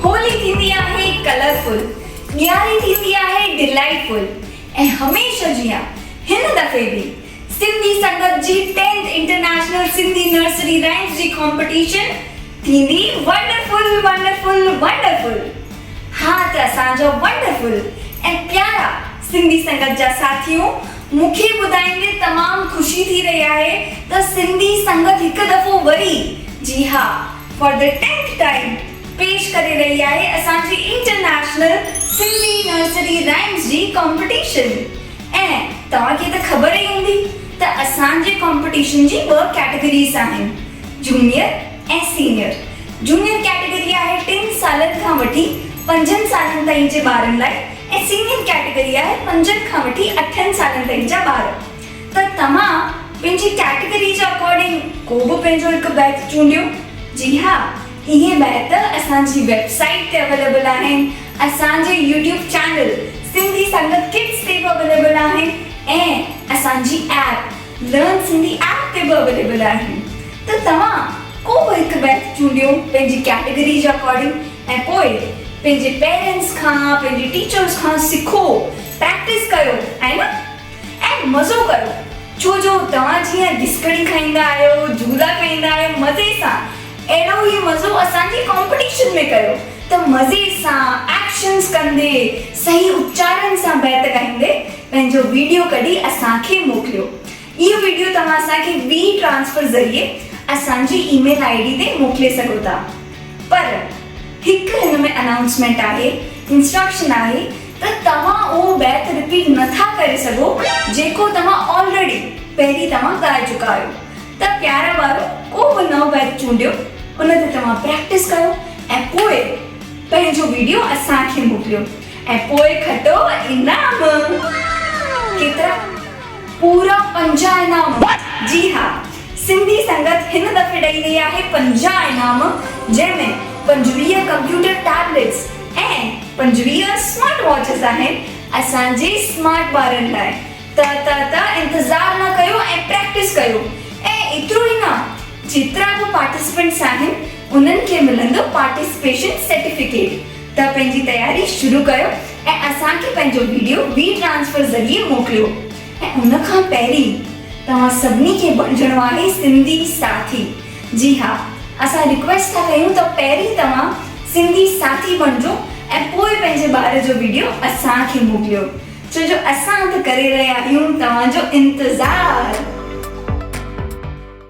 هولي ٿيندي آهي colourful, Diyari ٿيندي آهي ڊلائيٽ فل ۽ هميشه جيان هن دفعي به سنڌي سنگت جي tenth international Sindhi nursery rhymes جي ڪامپٽيشن ٿيندي ونڊرفل ونڊرفل ونڊرفل ها ته اسان جا ونڊرفل ۽ پيارا سنڌي سنگت جا ساٿيون مون کي ٻڌائيندي تمام خوشي ٿي رهي آهي ته سنڌي سنگت هڪ دفعو وري، جي ها، فار دي ٽينٿ ٽائيم، پيش ڪري رهي آهي اسان جي انٽرنيشنل سنڌي نرسري رائيمز جي ڪامپٽيشن. ۽ توهان کي ته خبر ئي هوندي ته اسان جي ڪامپٽيشن جي ٻه ڪيٽيگريز آهن، جونيئر ۽ سينيئر. جونيئر ڪيٽيگري آهي ٽن سالن کان وٺي پنجن سالن تائين جي ٻارن لاء، ۽ سينيئر ڪيٽيگري آهي پنجن کان وٺي اٺن سالن تائين جا ٻار ته توهان پنهنجي ڪيٽيگري جي اڪارڊنگ ڪو به پنهنجو هڪ بيت چونڊيو جي ها اهي بيت اسان جي ويب سائيٽ تي اويليبل آهن اسان جي YouTube channel Sindhi Sangat kids تي به اويليبل آهن ۽ اسان جي ايپ. لرن سنڌي ايپ تي به اويليبل آهن ته توهان ڪو به هڪ بيت چونڊيو پنهنجي ڪيٽيگري جي اڪارڊنگ ۽ پوء پنهنجي پيرنٽس کان پنهنجي ٽيچرس کان سکو پريڪٽس ڪيو ۽ نه ۽ مزو ڪرو ڇو جو توهان جيئن ڏسڪڻي کائيندا آهيو جهولا کائيندا آهيو مزي سان اهڙو ئي مزو اسان جي ڪامپيٽيشن ۾ ڪيو ته مزي سان ايڪشنس ڪندي صحيح اچارن سان بيت ڳائيندي پنهنجو ويڊيو ڪڍي اسان کي موڪليو اهو ويڊيو توهان اسان کي وي ٽرانسفر ذريعي اسان جي اي ميل آئي ڊي تي موڪلي سگهو ٿا پر هڪ هن ۾ انائونسمينٽ آهي انسٽرڪشن آهي ته توهان اهو بيت رپيٽ نه ٿا ڪري سگهو جيڪو توهان آلريڊي پهرين توهان ڳائي چڪا آهيو ته پيارا ٻارو ڪو به نئون بيت چونڊيو ان تي توهان پريڪٽس ڪيو ۽ پوء پنهنجو ويڊيو اسان کي موڪليو. ۽ پوء کٽو انعام ڪيترا؟ پورا پنجاهه انعام جي ها سنڌي سنگت هن دفعي ڏئي رهي آهي پنجاهه انعام جنهن ۾ پنجويهه ڪمپيوٽر ٽيبليٽس ۽ پنجويهه اسمارٽ واچز آهن اسان جي اسمارٽ ٻارن لاء ته ته ته انتظار نه ڪيو ۽ پريڪٽس ڪيو ۽ ايترو ئي نه جيترا به پارٽيسپينٽس آهن انهن کي ملندو پارٽيسپيشن سرٽيفڪيٽ ته پنهنجي تياري شروع ڪيو ۽ اسان کي پنهنجو ويڊيو وي ٽرانسفر ذريعي موڪليو ۽ ان کان پهرين توهان سڀني کي بڻجڻو آهي سنڌي ساٿي جي ها اسان رڪويسٽ ٿا ڪيون ته پهرين توهان سنڌي ساٿي بڻجو ۽ پوء پنهنجي ٻار جو ويڊيو اسان کي موڪليو ڇو جو اسان ته ڪري رهيا آهيون توهان جو انتظار.